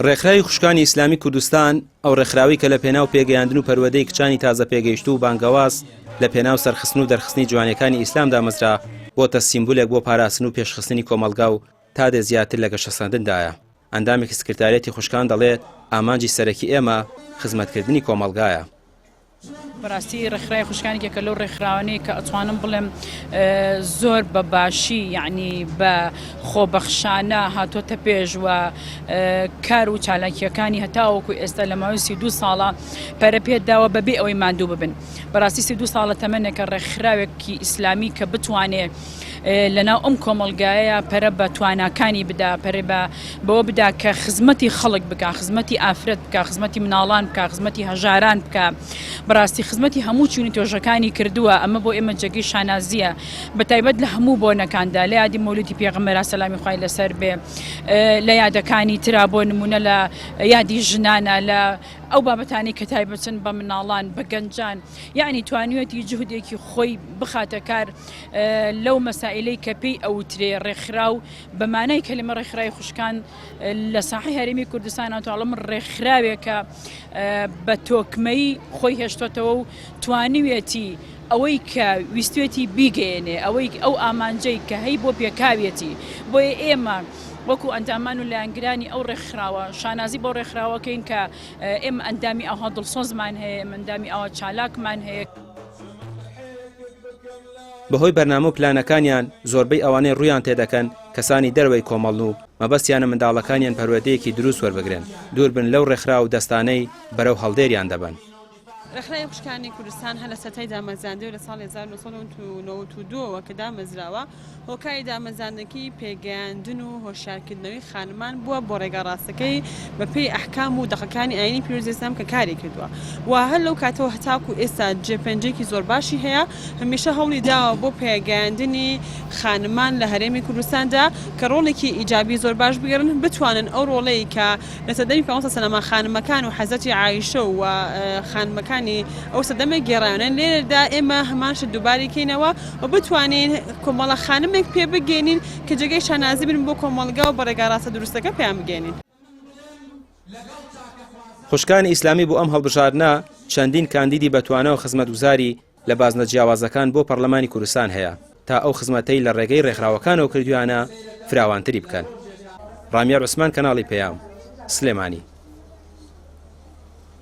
ڕێکخراوی خوشکانی ئیسلامی کوردستان، ئەو ڕێکخراوەی کە لە پێناو پێگەیاندن و پەروەدەی کچانی تازە پێگەیشتوو و بانگەواز لە پێناو سەرخستن و دەرخستنی جوانیەکانی ئیسلام دامەزرا، بۆتە سیمبولێک بۆ پاراستن و پێشخستنی کۆمەڵگا و تا دێت زیاتر لە گەشەسەندندایە. ئەندامێکی سکرتاریەتی خوشکان دەڵێت، ئامانجی سەرەکی ئێمە خزمەتکردنی کۆمەڵگایە. بەراستی ڕێکخراوی خوشکان یەکێکە لەو ڕێکخراوانەی کە ئەتوانم بڵێم زۆر بە باشی یعنی بە خۆبەخشانە هاتۆتە پێش و کار و چالاکیەکانی هەتاوەکو ئێستا لە ماوەی سی دو ساڵە پەرە پێداوە بەبێ ئەوەی ماندوو ببن بەراستی سی دو ساڵە تەمەێکە ڕێکخراوێکی ئیسلامی کە بتوانێ لەناو ئەم کۆمەڵگایە پەرە بە تواناکانی بدا پەرێ بە بەوە بدا کە خزمەتی خەڵک بک خزمەتی ئافرەت بک خزمەتی مناڵان بک خزمەتی هەژاران بک بەڕاستی خزمەتی هەموو چوونی تۆژەکانی کردووە ئەمە بۆ ئێمە جێگەی شانازیە بە تایبەت لە هەموو بۆ نەکاندا لە یادی مولودی پێغمەرا سەلامی خی لەسەر بێ لە یادەکانی تررا بۆ نمونە لە یادی ژنانە لە ئەو بابەتانی کە تایبەتن بە مناڵان بە گەنجان یعنی توانیوەتی جهودێکی خۆی بخاتە کار لەو مەسائلەی کە پێی ئەوترێ ڕێکخراو بە مانای کەلیمە ڕێکخرای خوشکان لە ساحی هەرێمی کوردستان ئەتوڵم ڕێکخراوێکە بە تۆکمەی خۆی هێشتۆتەوە و توانیوێتی ئەوەی کە ویستێتی بیگەێنێ ئەوەی ئەو ئامانجەی کە هەی بۆ پێکاوێتی بۆیە ئێمە وەکو ئەندامان و لایەنگرانی ئەو ڕێکخراوە شانازی بۆ ڕێکخراوەکەین کە ئێمە ئەندامی ئەوها دڵسۆزمان هەیە مندامی ئەوە چالاکمان هەیە. بەهۆی بەرنامە و پلانەکانیان زۆربەی ئەوانەی ڕوویان تێدەکەن کەسانی دەرەوەی کۆمەڵن و مەبەستیانە منداڵەکانیان پەروەردەیەکی دروست وەربگرن، دووربن لەو ڕێکخراو و دەستانەی بەرەو هەڵدێریان دەبەن. ڕێکخراوی خوشکانی کوردستان هەر لە سەرەتای دامەزراندەی و لە ساڵی هەزار و نۆ سەد و نەوەد و دوو ەوە کە دامەزراوە، هۆکاری دامەزاندنەکەی پێگەیاندن و هۆشیارکردنەوەی خانمان بووە بۆ ڕێگا ڕاستەکەی بە پێی ئەحکام و دەقەکانی ئاینی پیرۆزی ئیسلام کە کاری کردووە و هەر لەو کاتەوە هەتاکوو ئێستا جێ پەنجەیەکی زۆر باشی هەیە هەمیشە هەوڵی داوە بۆ پێگەیاندنی خانمان لە هەرێمی کوردستاندا کە ڕۆڵێکی ئیجابی زۆر باش بگێڕن بتوانن ئەو ڕۆڵەی کە لە سەردەمی پێغەمبەر صلی اللە علیه و سلم خانمەکان و حەزرەتی عائیشە و خانمەکانی ئەو سەردەمە گێڕایانە لێرەدا ئێمە هەمان شت دووبارەی کەینەوە و بتوانین کۆمەڵە خانمێک پێ بگەینین کە جێگەی شانازی بن بۆ کۆمەڵگا و بە ڕێگا ڕاستە دروستەکە پێیان بگەینین. خوشکانی ئیسلامی بۆ ئەم هەڵبژاردنە چەندین کاندیدی بەتوانا و خزمەتگوزاری لە بازنە جیاوازەکان بۆ پەڕلەمانی کوردستان هەیە تا ئەو خزمەتەی لە ڕێگەی ڕێکخراوەکانەوە کردویانە فراوانتری بکەن. ڕامیار عوسمان کەناڵی پەیام، سلێمانی.